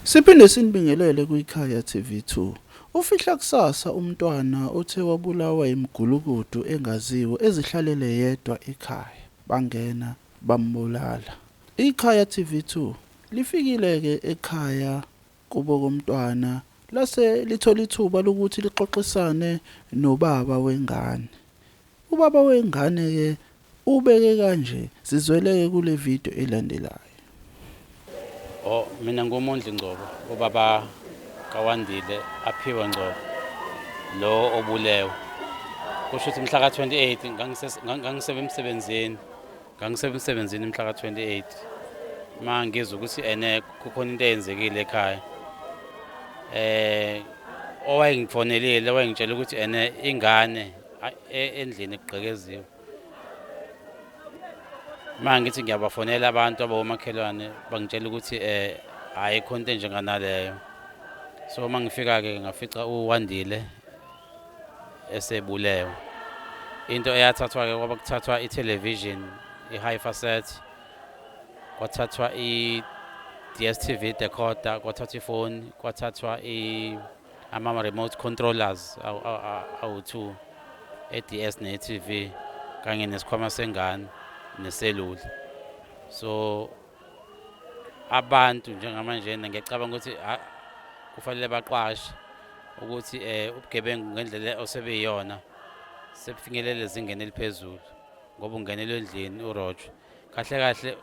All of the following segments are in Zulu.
Siphinde sinibingelele kwiKhaya TV2. Ufihla kusasa umntwana othe wabulawa yimigulukudu engaziwa ezihlalele yedwa ekhaya, bangena bambulala. IKhaya TV2 lifikile-ke ekhaya kubo komntwana lase lithola ithuba lokuthi lixoxisane nobaba wengane. Ubaba wengane ke ubeke kanje sizweleke kule video elandelayo. Oh mina nguMondli Ngcobo ubaba kaWandile Aphiwe Ngcobo lo obulewe. Kusho ukuthi mhla ka-28 ngangisebe emsebenzini ngangisebe emsebenzini mhla ka-28 uma ngizwa ukuthi ene kukhona into eyenzekile ekhaya eh owayengifonelile wayengitshela ukuthi ene ingane e, endlini kugqekeziwe uma ngithi ngiyabafonela abantu abawomakhelwane bangitshela ukuthi um ayikho into enjenganaleyo so uma ngifika-ke ngafica uwandile esebulewe into eyathathwa-ke kwaba kuthathwa i-television i-hifa set kwathathwa i-dstv decoder kwathathwa ifoni kwathathwa i ama-remote controllers awu-two e-ds ne-tv kanye nesikhwama sengane neselula so abantu njengamanjena ngiyacabanga ukuthi kufanele baqwashe ukuthi um ubugebengu ngendlela osebeyiyona sebufinyelele ezingeni eliphezulu ngoba ungenelwe endlini urojo kahle kahle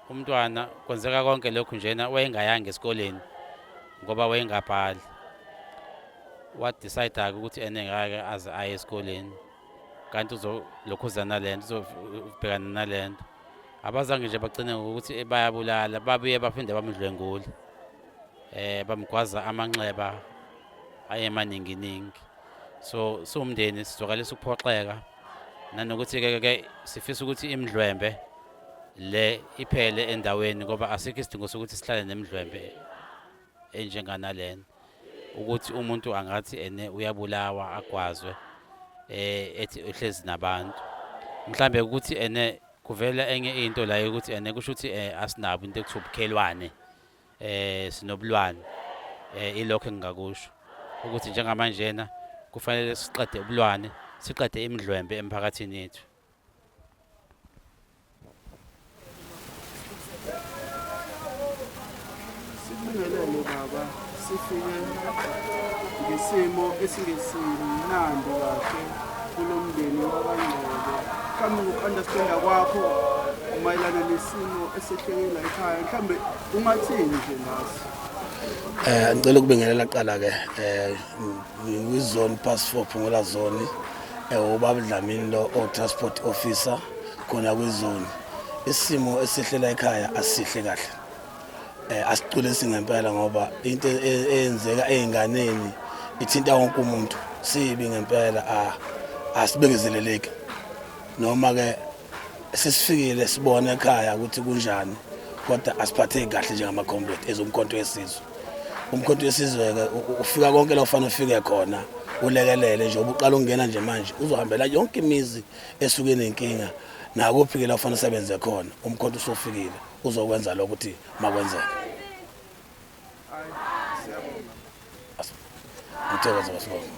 umntwana kwenzeka konke lokhu njena wayengayanga esikoleni ngoba wayengabhali wadecide-ke ukuthi ene ngake aze aye esikoleni kanti uzokhuzana le nto uzobhekana nale nto abazange nje bagcine ngokuthi bayabulala babuye baphinde bamdlwengule eh bamgwaza amanxeba ayemaninginingi so siwumndeni sizwakalisa ukuphoxeka nanokuthi ke ke sifisa ukuthi imidlwembe le iphele endaweni ngoba asikho isidingo sokuthi sihlale nemidlwembe enjenganalena ukuthi umuntu angathi ene uyabulawa agwazwe eh ethi uhlezi nabantu mhlambe ukuthi ene kuvela enye into la ukuthi ene kusho ukuthi eh, asinabo into ekuthiwa ubukhelwane eh sinobulwane eh ilokho engingakusho ukuthi njengamanjena kufanele siqede ubulwane siqede imidlwembe emphakathini yethu Sibingelele baba sifike ngesimo esingesimnandi kahle kulomndeni wakwaNgcebo mhlawumbe ngoku-understanda kwakho mayelana nesimo esehlekela ekhaya mhlawumbe ungathini nje ngaso Eh ngicela ukubingelela qala ke eh ngizone pass for Phungola zone eh ubaba Dlamini lo o transport officer khona kwizone isimo esihlela ekhaya asihle kahle eh, asiculisi ngempela ngoba into e, e, eyenzeka ezinganeni ithinta wonke umuntu sibi ngempela ah, asibekezeleleki noma ke sesifikile sibone ekhaya ukuthi kunjani kodwa asiphatheki kahle njengamacomrade ezomkhonto wesizwe umkhonto wesizwe ke ufika konke la ufanele ufike khona ulekelele nje ubuqala ungena nje manje uzohambela yonke imizi esuke nenkinga nakuphi ke la ufanele usebenze khona umkhonto usofikile uzokwenza lokho ukuthi makwenzeke ngithokoza basibonga